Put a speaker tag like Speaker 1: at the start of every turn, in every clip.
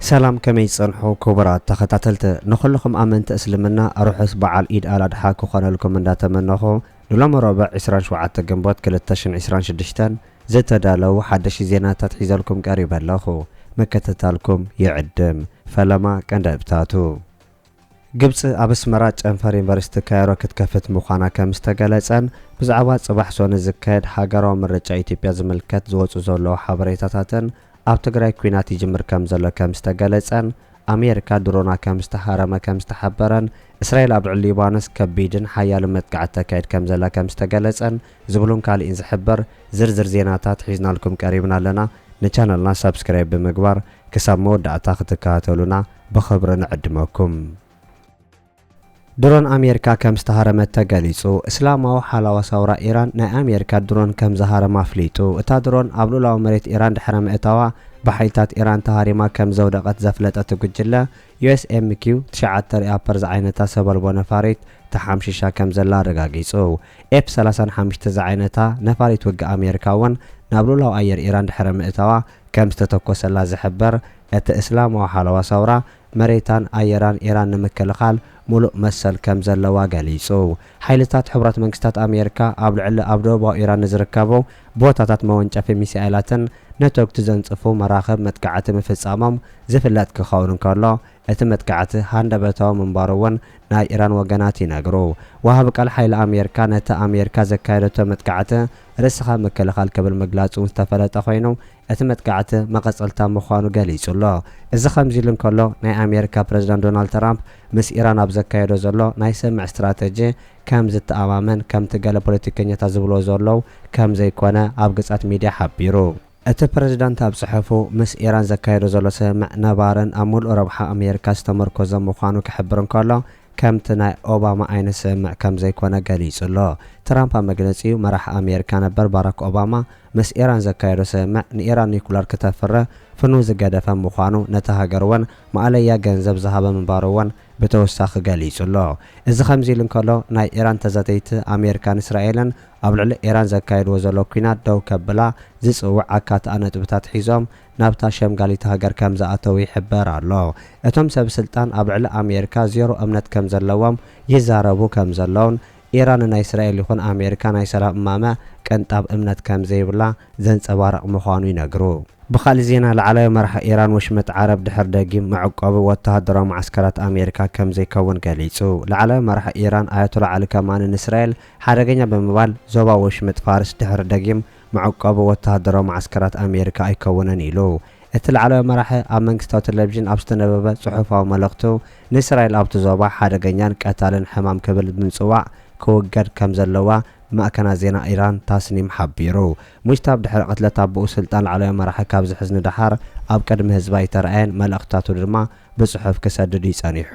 Speaker 1: ሰላም ከመይ ትጸንሑ ኩቡራት ተኸታተልቲ ንኹሉኹም ኣመንቲ እስልምና ሩሑስ ባዓል ኢድ ኣል ኣድሓ ክኾነልኩም እንዳተመነኹ ንሎሚ ሮብዕ ዕስራን ሸውዓተ ግንቦት ክልተ ሽሕን ዕስራን ሽዱሽተን ዝተዳለው ሓደሽቲ ዜናታት ሒዘልኩም ቀሪበ ኣለኹ ምክትታልኩም ይዕድም ፈለማ ቀንደብታቱ ግብጺ ኣብ ኣስመራ ጨንፈር ዩኒቨርሲቲ ካይሮ ክትከፍት ምዃና ከምዝተገለጸን ብዛዕባ ጽባሕ ሶኒ ዝካየድ ሃገራዊ ምርጫ ኢትዮጵያ ዝምልከት ዝወጹ ዘለዉ ሓበሬታታትን ኣብ ትግራይ ኲናት ይጅምር ከምዘሎ ከምዝተገለጸን ኣሜሪካ ድሮና ከምዝተሃረመ ከምዝተሓበረን እስራኤል ኣብ ልዕሊ ሊባኖስ ከቢድን ሓያልን መጥቃዕቲ ተካይድ ከምዘላ ከምዝተገለጸን ዝብሉን ካልእን ዝሕበር ዝርዝር ዜናታት ሒዝናልኩም ቀሪብና ኣለና። ንቻነልና ሳብስክራይብ ብምግባር ክሳብ መወዳእታ ክትከታተሉና ብኽብሪ ንዕድመኩም። ድሮን ኣሜሪካ ከም ዝተሃረመት ተገሊጹ። እስላማዊ ሓላዋ ሳውራ ኢራን ናይ ኣሜሪካ ድሮን ከም ዝሃረማ ኣፍሊጡ። እታ ድሮን ኣብ ሉኡላዊ መሬት ኢራን ድሕረ ምእታዋ ብሓይልታት ኢራን ተሃሪማ ከም ዘውደቐት ዘፍለጠ እቲ ጉጅለ፣ USMQ ትሽዓተ ሪኣፐር ዝዓይነታ ሰብ ኣልቦ ነፋሪት ተሓምሺሻ ከም ዘላ ኣረጋጊጹ። ኤፍ ሰላሳን ሓምሽተ ዝዓይነታ ነፋሪት ውግእ ኣሜሪካ እውን ናብ ሉላዊ ኣየር ኢራን ድሕሪ ምእታዋ ከም ዝተተኮሰላ ዝሕበር እቲ እስላማዊ ሓለዋ ሰውራ፣ መሬታን ኣየራን ኢራን ንምክልኻል ሙሉእ መሰል ከም ዘለዋ ገሊጹ። ሓይልታት ሕቡራት መንግስታት ኣሜሪካ ኣብ ልዕሊ ኣብ ደቡባዊ ኢራን ንዝርከቡ ቦታታት መወንጨፊ ሚሳኤላትን ነተጉቲ ዘንጽፉ መራኽብ መጥቃዕቲ ምፍጻሞም ዝፍለጥ ክኸውን እንከሎ፣ እቲ መጥቃዕቲ ሃንደበታዊ ምንባሩ'ውን ናይ ኢራን ወገናት ይነግሩ። ወሃቢ ቃል ሓይሊ ኣሜርካ ነቲ ኣሜርካ ዘካየደቶ መጥቃዕቲ ርእስኻ ምክልኻል ክብል ምግላጹ'ውን ዝተፈለጠ ኮይኑ፣ እቲ መጥቃዕቲ መቐጸልታ ምዃኑ ገሊጹ'ሎ። እዚ ከምዚ'ሉ እንከሎ፣ ናይ ኣሜርካ ፕረዚደንት ዶናልድ ትራምፕ ምስ ኢራን ኣብ ዘካየዶ ዘሎ ናይ ስምምዕ ስትራተጂ ከም ዝተኣማመን ከምቲ ገለ ፖለቲከኛታት ዝብልዎ ዘሎው ከም ዘይኮነ ኣብ ግጻት ሚድያ ሓቢሩ። እቲ ፕረዚዳንት ኣብ ጽሑፉ፣ ምስ ኢራን ዘካይዶ ዘሎ ስምምዕ ነባርን ኣብ ምሉእ ረብሓ ኣሜሪካ ዝተመርኮዘን ምዃኑ ክሕብር እንከሎ፣ ከምቲ ናይ ኦባማ ዓይነት ስምምዕ ከም ዘይኮነ ገሊጹ ኣሎ። ትራምፕ ኣብ መግለጺኡ፣ መራሒ ኣሜሪካ ነበር ባራክ ኦባማ ምስ ኢራን ዘካየዶ ስምምዕ ንኢራን ኒኩለር ክተፍሪ ፍኑው ዝገደፈ ምዃኑ ነታ ሃገር'ውን ማእለያ ገንዘብ ዝሃበ ምንባሩ'ውን ብተወሳኺ ገሊጹ ኣሎ። እዚ ከምዚ ኢሉ እንከሎ፣ ናይ ኢራን ተዛተይቲ ኣሜሪካን እስራኤልን ኣብ ልዕሊ ኢራን ዘካይድዎ ዘለዉ ኲናት ደው ከብላ ዝጽውዕ ኣካትዓ ነጥብታት ሒዞም ናብታ ሸምጋሊት ሃገር ከም ዝኣተዉ ይሕበር ኣሎ። እቶም ሰብ ስልጣን ኣብ ልዕሊ ኣሜሪካ ዜሮ እምነት ከም ዘለዎም ይዛረቡ ከም ዘለዉን ኢራን ንናይ እስራኤል ይኹን ኣሜሪካ ናይ ሰላም እማመ ቅንጣብ እምነት ከም ዘይብላ ዘንጸባርቕ ምዃኑ ይነግሩ። ብኻልእ ዜና ላዕላዊ መራሒ ኢራን ወሽመጥ ዓረብ ድሕር ደጊም መዕቆቢ ወተሃደራዊ መዓስከራት ኣሜሪካ ከም ዘይከውን ገሊጹ። ላዕላዊ መራሒ ኢራን ኣያቶላ ዓሊ ከማኒ ንእስራኤል ሓደገኛ ብምባል ዞባ ወሽመጥ ፋርስ ድሕሪ ደጊም መዕቆቢ ወተሃደራዊ መዓስከራት ኣሜሪካ ኣይከውንን ኢሉ። እቲ ላዕለዋይ መራሒ ኣብ መንግስታዊ ተለቪዥን ኣብ ዝተነበበ ጽሑፋዊ መልእኽቱ፣ ንእስራኤል ኣብቲ ዞባ ሓደገኛን ቀታልን ሕማም ክብል ብምጽዋዕ ክውገድ ከም ዘለዋ ማዕከናት ዜና ኢራን ታስኒም ሓቢሩ። ሙጅታብ ድሕሪ ቅትለት ኣቦኡ ስልጣን ላዕለዋይ መራሒ ካብ ዝሕዝ ንደሓር ኣብ ቅድሚ ህዝቢ ኣይተራእየን፣ መልእኽትታቱ ድማ ብጽሑፍ ክሰድድ እዩ ጸኒሑ።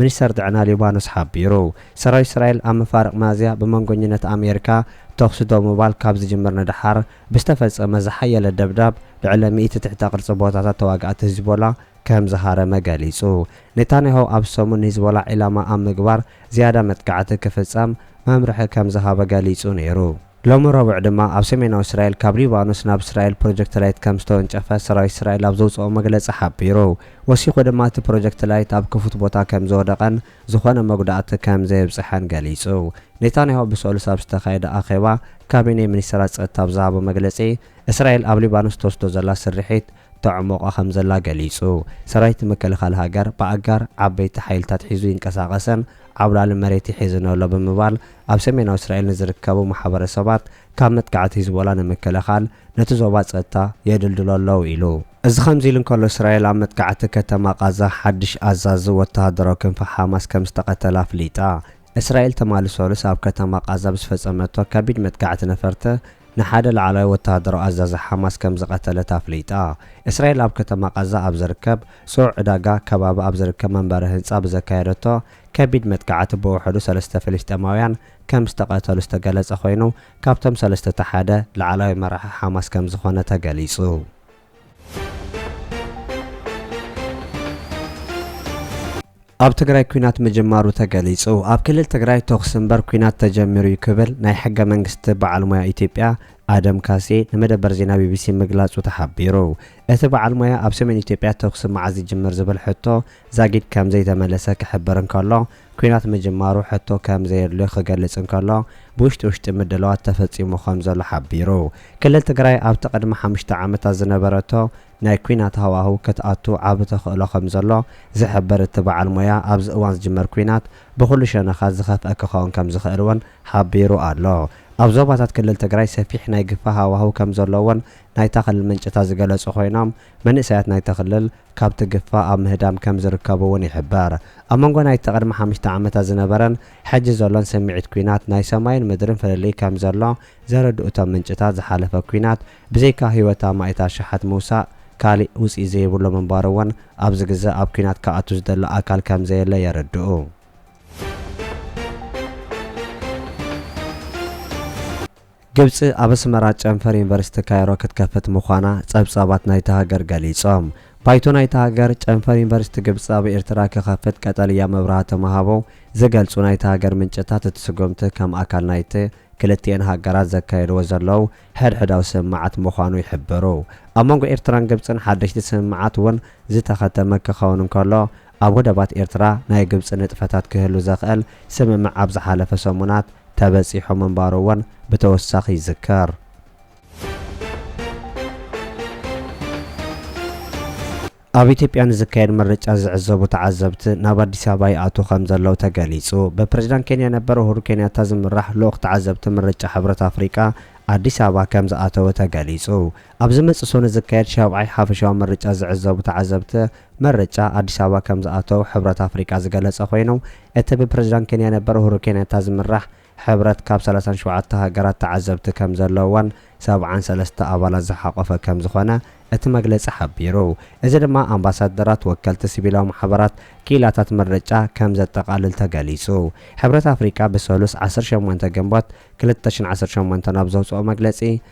Speaker 1: ሚኒስተር ጥዕና ሊባኖስ ሓቢሩ። ሰራዊት እስራኤል ኣብ መፋርቕ ሚያዝያ ብመንጎኝነት ኣሜሪካ ተኹሲ ደው ምባል ካብ ዝጅምር ንደሓር ብዝተፈጸመ ዝሓየለ ደብዳብ ልዕሊ ሚእቲ ትሕተ ቅርጺ ቦታታት ተዋጋእቲ ሂዝቦላ ከም ዝሃረመ ገሊጹ። ኔታንያሁ ኣብዚ ሰሙን ንሂዝቦላ ዒላማ ኣብ ምግባር ዝያዳ መጥቃዕቲ ክፍጸም መምርሒ ከም ዝሃበ ገሊጹ ነይሩ። ሎሚ ረቡዕ ድማ ኣብ ሰሜናዊ እስራኤል ካብ ሊባኖስ ናብ እስራኤል ፕሮጀክት ላይት ከም ዝተወንጨፈ ሰራዊት እስራኤል ኣብ ዘውጽኦ መግለጺ ሓቢሩ። ወሲኹ ድማ እቲ ፕሮጀክት ላይት ኣብ ክፉት ቦታ ከም ዝወደቐን ዝኾነ መጉዳእቲ ከም ዘየብጽሐን ገሊጹ። ኔታንያሁ ብሰሉስ ኣብ ዝተኻየደ ኣኼባ ካቢኔ ሚኒስተራት ጸጥታ ኣብ ዝሃቦ መግለጺ፣ እስራኤል ኣብ ሊባኖስ እትወስዶ ዘላ ስርሒት፣ ተዕሞቐ ከምዘላ ገሊጹ። ሰራዊት ምክልኻል ሃገር ብኣጋር ዓበይቲ ሓይልታት ሒዙ ይንቀሳቐሰን ዓብላሊ መሬት ይሕዝን ኣሎ ብምባል ኣብ ሰሜናዊ እስራኤል ንዝርከቡ ማሕበረሰባት ካብ መጥቃዕቲ ሂዝቦላ ንምክልኻል ነቲ ዞባ ጸጥታ የድልድሎ ኣለው ኢሉ። እዚ ከምዚ ኢሉ እንከሎ እስራኤል ኣብ መጥቃዕቲ ከተማ ቓዛ ሓድሽ ኣዛዚ ወተሃደራዊ ክንፊ ሓማስ ከምዝተቐተለ ኣፍሊጣ። እስራኤል ትማሊ ሰሉስ ኣብ ከተማ ቓዛ ብዝፈጸመቶ ከቢድ መጥቃዕቲ ነፈርቲ ንሓደ ላዕለዋይ ወተሃደራዊ ኣዛዚ ሓማስ ከም ዝቐተለት ኣፍሊጣ። እስራኤል ኣብ ከተማ ቓዛ ኣብ ዝርከብ ጽዑቕ ዕዳጋ ከባቢ ኣብ ዝርከብ መንበሪ ህንጻ ብዘካየደቶ ከቢድ መጥቃዕቲ ብውሕዱ ሰለስተ ፍልስጤማውያን ከም ዝተቐተሉ ዝተገለጸ ኮይኑ ካብቶም ሰለስተ እቲ ሓደ ላዕለዋይ መራሒ ሓማስ ከም ዝኾነ ተገሊጹ። ኣብ ትግራይ ኲናት ምጅማሩ ተገሊጹ። ኣብ ክልል ትግራይ ተኹሲ እምበር ኲናት ተጀሚሩ እዩ ክብል ናይ ሕገ መንግስቲ በዓል ሞያ ኢትዮጵያ ኣደም ካሴ ንመደበር ዜና ቢቢሲ ምግላጹ ተሓቢሩ። እቲ በዓል ሞያ ኣብ ሰሜን ኢትዮጵያ ተኹሲ መዓዝ ይጅምር ዝብል ሕቶ ዛጊድ ከምዘይተመለሰ ክሕብር እንከሎ፣ ኲናት ምጅማሩ ሕቶ ከም ዘየድልዮ ክገልጽ እንከሎ፣ ብውሽጢ ውሽጢ ምድላዋት ተፈጺሙ ከም ዘሎ ሓቢሩ። ክልል ትግራይ ኣብቲ ቅድሚ ሓሙሽተ ዓመታት ዝነበረቶ ናይ ኲናት ሃዋህው ክትኣቱ ዓቢ ተኽእሎ ከም ዘሎ ዝሕብር እቲ በዓል ሞያ፣ ኣብዚ እዋን ዝጅመር ኲናት ብኹሉ ሸነኻት ዝኸፍኣ ክኸውን ከም ዝኽእል እውን ሓቢሩ ኣሎ። ኣብ ዞባታት ክልል ትግራይ ሰፊሕ ናይ ግፋ ሃዋህው ከም ዘሎ'ውን ናይታ ክልል ምንጭታት ዝገለጹ ኮይኖም፣ መንእሰያት ናይታ ክልል፣ ካብቲ ግፋ ኣብ ምህዳም ከም ዝርከቡ እውን ይሕበር። ኣብ መንጎ ናይቲ ቅድሚ ሓምሽተ ዓመታት ዝነበረን ሕጂ ዘሎን ስምዒት ኲናት ናይ ሰማይን ምድርን ፍልልይ ከም ዘሎ ዘረድኡ እቶም ምንጭታት ዝሓለፈ ኲናት ብዘይካ ህይወት ኣማኢት ኣሽሓት ምውሳእ ካሊእ ውፅኢት ዘይብሉ ምንባሩ እውን ኣብዚ ግዘ ኣብ ኲናት ክኣቱ ዝደሊ ኣካል ከም ዘየለ የረድኡ። ግብጺ ኣብ ኣስመራ ጨንፈር ዩኒቨርሲቲ ካይሮ ክትከፍት ምዃና ጸብጻባት ናይታ ሃገር ገሊጾም። ባይቶ ናይታ ሃገር፣ ጨንፈር ዩኒቨርሲቲ ግብጺ ኣብ ኤርትራ ክኸፍት ቀጠልያ መብራህ ተምሃቦ ዝገልጹ ናይታ ሃገር ምንጭታት እቲ ስጉምቲ ከም ኣካል ናይቲ ክልቲኤን ሃገራት ዘካየድዎ ዘለዉ ሕድሕዳዊ ስምምዓት ምዃኑ ይሕብሩ። ኣብ መንጎ ኤርትራን ግብጽን ሓደሽቲ ስምምዓት እውን ዝተኸተመ ክኸውን እንከሎ፣ ኣብ ወደባት ኤርትራ ናይ ግብጺ ንጥፈታት ክህሉ ዘኽእል ስምምዕ ኣብ ዝሓለፈ ሰሙናት ተበጺሑ ምንባሩ'ውን ብተወሳኺ ይዝከር። ኣብ ኢትዮጵያ ንዝካየድ ምርጫ ዝዕዘቡ ተዓዘብቲ ናብ ኣዲስ ኣበባ ይኣትዉ ከምዘለዉ ተገሊጹ። ብፕረዚዳንት ኬንያ ነበር ኡሁሩ ኬንያታ ዝምራሕ ልኡኽ ተዓዘብቲ ምርጫ ሕብረት ኣፍሪቃ ኣዲስ ኣበባ ከምዝኣተወ ተገሊጹ። ኣብ ዝመጽእ ሰኑይ ዝካየድ ሻብዓይ ሓፈሻዊ ምርጫ ዝዕዘቡ ተዓዘብቲ ምርጫ ኣዲስ ኣበባ ከም ዝኣተው ሕብረት ኣፍሪቃ ዝገለጸ ኮይኑ፣ እቲ ብፕረዚዳንት ኬንያ ነበር ኡሁሩ ኬንያታ ዝምራሕ ሕብረት ካብ ሰላሳን ሸውዓተ ሃገራት ተዓዘብቲ ከም ዘለውዎን ሰብዓን ሰለስተ ኣባላት ዝሓቖፈ ከም ዝኾነ እቲ መግለጺ ሓቢሩ። እዚ ድማ ኣምባሳደራት፣ ወከልቲ ሲቪላዊ ማሕበራት፣ ክኢላታት ምርጫ ከም ዘጠቓልል ተገሊጹ። ሕብረት ኣፍሪቃ ብሰሉስ ዓሰርተ ሸሞንተ ግንቦት ክልተ ሽሕን ዓሰርተ ሸሞንተን ኣብ ዘውጽኦ መግለጺ፣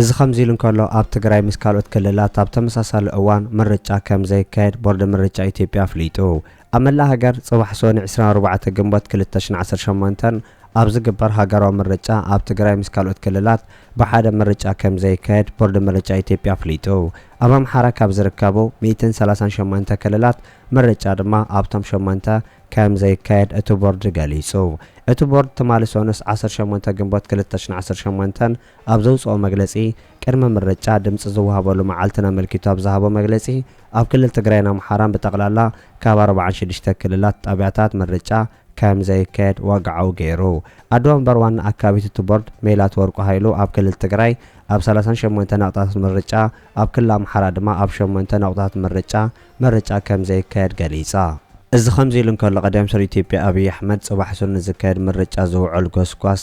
Speaker 1: እዚ ከምዚ ኢሉ እንከሎ፣ ኣብ ትግራይ ምስ ካልኦት ክልላት ኣብ ተመሳሳሊ እዋን ምርጫ ከም ዘይካየድ ቦርድ ምርጫ ኢትዮጵያ ኣፍሊጡ። ኣብ መላእ ሃገር ጽባሕ ሶኒ ዕስራን ኣርባዕተ ግንቦት ክልተ ሽሕን ዓሰርተ ሸሞንተን ኣብ ዝግበር ሃገራዊ ምርጫ ኣብ ትግራይ ምስ ካልኦት ክልላት ብሓደ ምርጫ ከም ዘይካየድ ቦርድ ምርጫ ኢትዮጵያ ኣፍሊጡ። ኣብ ኣምሓራ ካብ ዝርከቡ ሚእትን ሰላሳን ሸሞንተ ክልላት ምርጫ ድማ ኣብቶም ሸሞንተ ከም ዘይካየድ እቲ ቦርድ ገሊጹ። እቲ ቦርድ ትማሊ ሶኑስ ዓሰርተ ሸሞንተ ግንቦት ክልተ ሽሕን ዓሰርተ ሸሞንተን ኣብ ዘውጽኦ መግለጺ፣ ቅድመ ምርጫ ድምጺ ዝወሃበሉ መዓልትን ኣመልኪቱ ኣብ ዝሃቦ መግለጺ፣ ኣብ ክልል ትግራይን ኣምሓራን ብጠቕላላ ካብ ኣርብዓን ሽዱሽተ ክልላት ጣብያታት ምርጫ ከም ዘይካየድ ወግዓዊ ገይሩ። ኣደ ወንበር ዋና ኣካቢት እቲ ቦርድ ሜላት ወርቁ ሃይሉ ኣብ ክልል ትግራይ ኣብ ሰላሳን ሸሞንተ ነቑጣታት ምርጫ ኣብ ክልል ኣምሓራ ድማ ኣብ ሸሞንተ ነቑጣታት ምርጫ ምርጫ ከም ዘይካየድ ገሊጻ። እዚ ከምዚ ኢሉ እንከሎ ቀዳም ሚኒስትር ኢትዮጵያ ኣብይ ኣሕመድ ጽባሕ ሱር ንዝካየድ ምርጫ ዝውዕል ጎስጓስ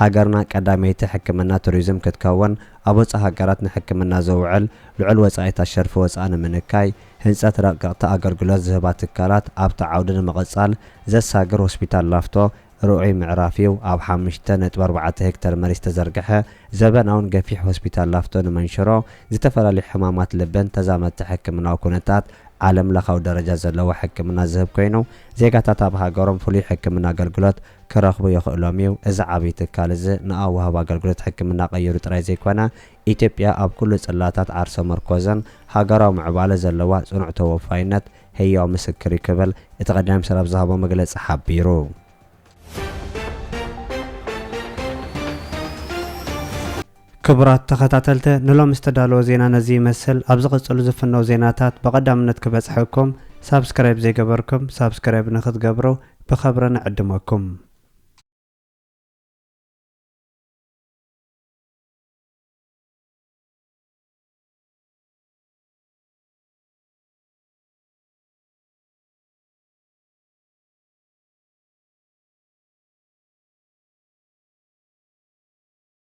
Speaker 1: ሃገርና ቀዳመይቲ ሕክምና ቱሪዝም ክትከውን፣ ኣብ ወጻኢ ሃገራት ንሕክምና ዝውዕል ልዑል ወጻኢታት ሸርፊ ወጻኢ ንምንካይ፣ ህንጸት ረቀቕቲ ኣገልግሎት ዝህባ ትካላት ኣብቲ ዓውዲ ንምቕጻል ዘሳግር ሆስፒታል ላፍቶ ርኡይ ምዕራፍ'ዩ፣ ኣብ ሓሙሽተ ነጥቢ ኣርባዕተ ሄክተር መሬት ዝተዘርግሐ ዘበናውን ገፊሕ ሆስፒታል ላፍቶ ንመንሽሮ፣ ዝተፈላለዩ ሕማማት ልብን ተዛመድቲ ሕክምናዊ ኩነታት ዓለምለኻዊ ደረጃ ዘለዎ ሕክምና ዝህብ ኮይኑ፣ ዜጋታት ኣብ ሃገሮም ፍሉይ ሕክምና ኣገልግሎት ክረኽቡ የኽእሎም እዩ። እዚ ዓብይ ትካል እዚ ንኣዋህባ ኣገልግሎት ሕክምና ቀይሩ ጥራይ ዘይኮነ፣ ኢትዮጵያ ኣብ ኩሉ ጽላታት ዓርሰ መርኮዝን ሃገራዊ ምዕባለ ዘለዋ ጽኑዕ ተወፋይነት ህያው ምስክር እዩ ክብል እቲ ቀዳማይ ሚኒስተር ኣብ ዝሃቦ መግለጺ ሓቢሩ። ክቡራት ተኸታተልተ ንሎሚ ዝተዳለወ ዜና ነዚ ይመስል ኣብ ዝቕጽሉ ዝፍነው ዜናታት ብቐዳምነት ክበጽሐኩም ሳብስክራይብ ዘይገበርኩም ሳብስክራይብ ንኽትገብሩ ብኸብሪ ንዕድመኩም።